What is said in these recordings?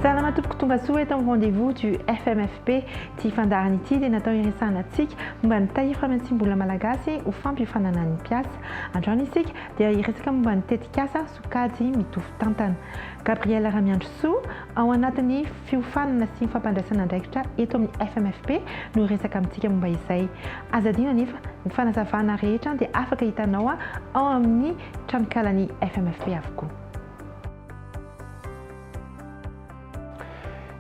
Salama tompoko tonga soa eto amin'ny rendez-vous du FMFP. Ity fandaharana ity dia natao hiresahana antsika momba ny tahiry famatsiam-bola malagasy ho fampiofanana ny mpiasa. Androany isika dia hiresaka momba ny tetikasa sokajy mitovy tantana. Gabrielle Ramiandrisoa, Ao anatin'ny fiofanana sy fampandraisana andraikitra eto amin'ny FMFP no hiresaka amintsika momba izay. Aza adino anefa, ny fanazavana rehetra dia afaka hitanao ao amin'ny tranonkalan'ny FMFP avokoa.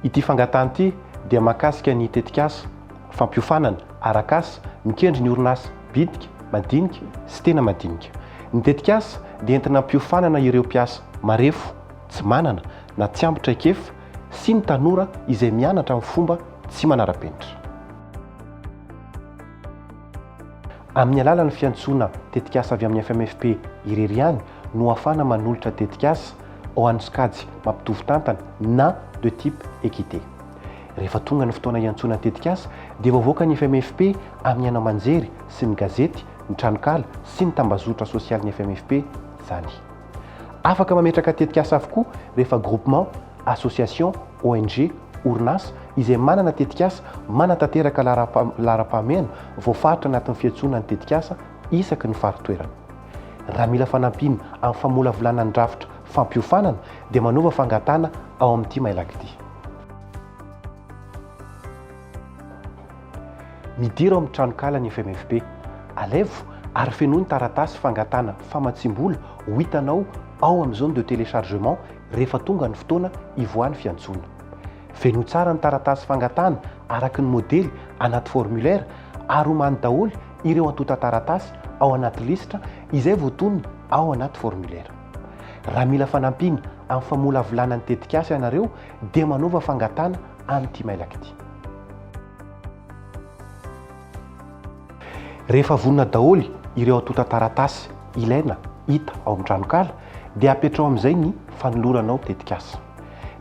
Ity fangatahana ity dia mahakasika ny tetikasa fampiofanana arak'asa mikendry ny orinasa bitika, madinika sy tena madinika. Ny tetikasa dia entina hampiofanana ireo mpiasa marefo tsy manana na tsy ampy traikefa sy ny tanora izay mianatra amin'ny fomba tsy manara-penitra. Amin'ny alalan'ny fiantsoana tetikasa avy amin'ny FMFP irery ihany no ahafahana manolotra tetikasa ho an'ny sokajy mampitovy tantana na de type équité. Rehefa tonga ny fotoana hiantsoana ny tetikasa dia voavoaka ny FMFP amin'ny haino aman-jery sy ny gazety, ny tranonkala sy ny tambazotra sosialin'ny FMFP izany. Afaka mametraka tetikasa avokoa rehefa groupement, association, ONG, orinasa izay manana tetikasa manatanteraka laharam-pahamehana voafaritra anatin'ny fiantsoana ny tetikasa isaky ny fari-toerana. Raha mila fanampiana amin'ny famolavolana ny drafitra fampiofanana dia manaova fangatahana ao amin'ity mailak'ity. Midira ao amin'ny tranonkala ny FMFP. Alaivo ary fenoy ny taratasy fangatahana famatsiam-bola ho hitanao ao amin'ny zone de téléchargement rehefa tonga ny fotoana hivoahan'ny fiantsoana. Fenoy tsara ny taratasy fangatahana araka ny modely anaty formulaire ary omany daholo ireo antontan-taratasy ao anaty lisitra izay voatonona ao anaty formulaire. Raha mila fanampiana amin'ny famolavolana ny tetikasa ianareo dia manaova fangatahana amin'ity mailaka ity. Rehefa vonona daholo ireo antontan-taratasy ilaina hita ao amin'ny tranonkala dia apetraho amin'izay ny fanolorana ao tetikasa.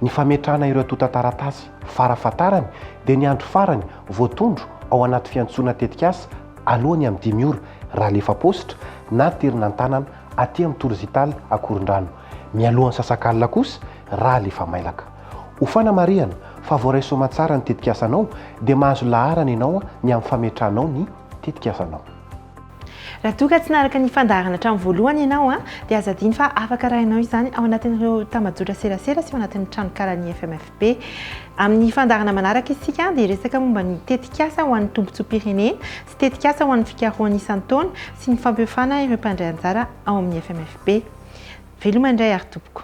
Ny fametrahana ireo antontan-taratasy fara fahatarany dia ny andro farany voatondro ao anaty fiantsoana tetikasa alohan'ny amin'ny dimy ora raha alefa paositra na an-terina an-tanana aty amin'ny Tour Zital Akorondrano, mialohan'ny sasakalina kosa raha alefa mailaka. Ho fanamarihana fa voaray soamantsara ny tetikasanao dia mahazo laharana ianao ny amin'ny fametranao ny tetikasanao. Raha toa ka tsy naraka ny fandaharana hatramin'ny voalohany ianao dia aza adino fa afaka arahinao izany ao anatin'ireo tambajotra serasera sy ao anatin'ny tranonkalan'ny FMFP. Amin'ny fandaharana manaraka isika dia hiresaka momba ny tetikasa ho an'ny tombontsoam-pirenena sy tetikasa ho an'ny fikarohana isan-taona sy ny fampiofana ireo mpandray anjara ao amin'ny FMFP. Veloma indray ary tompoko.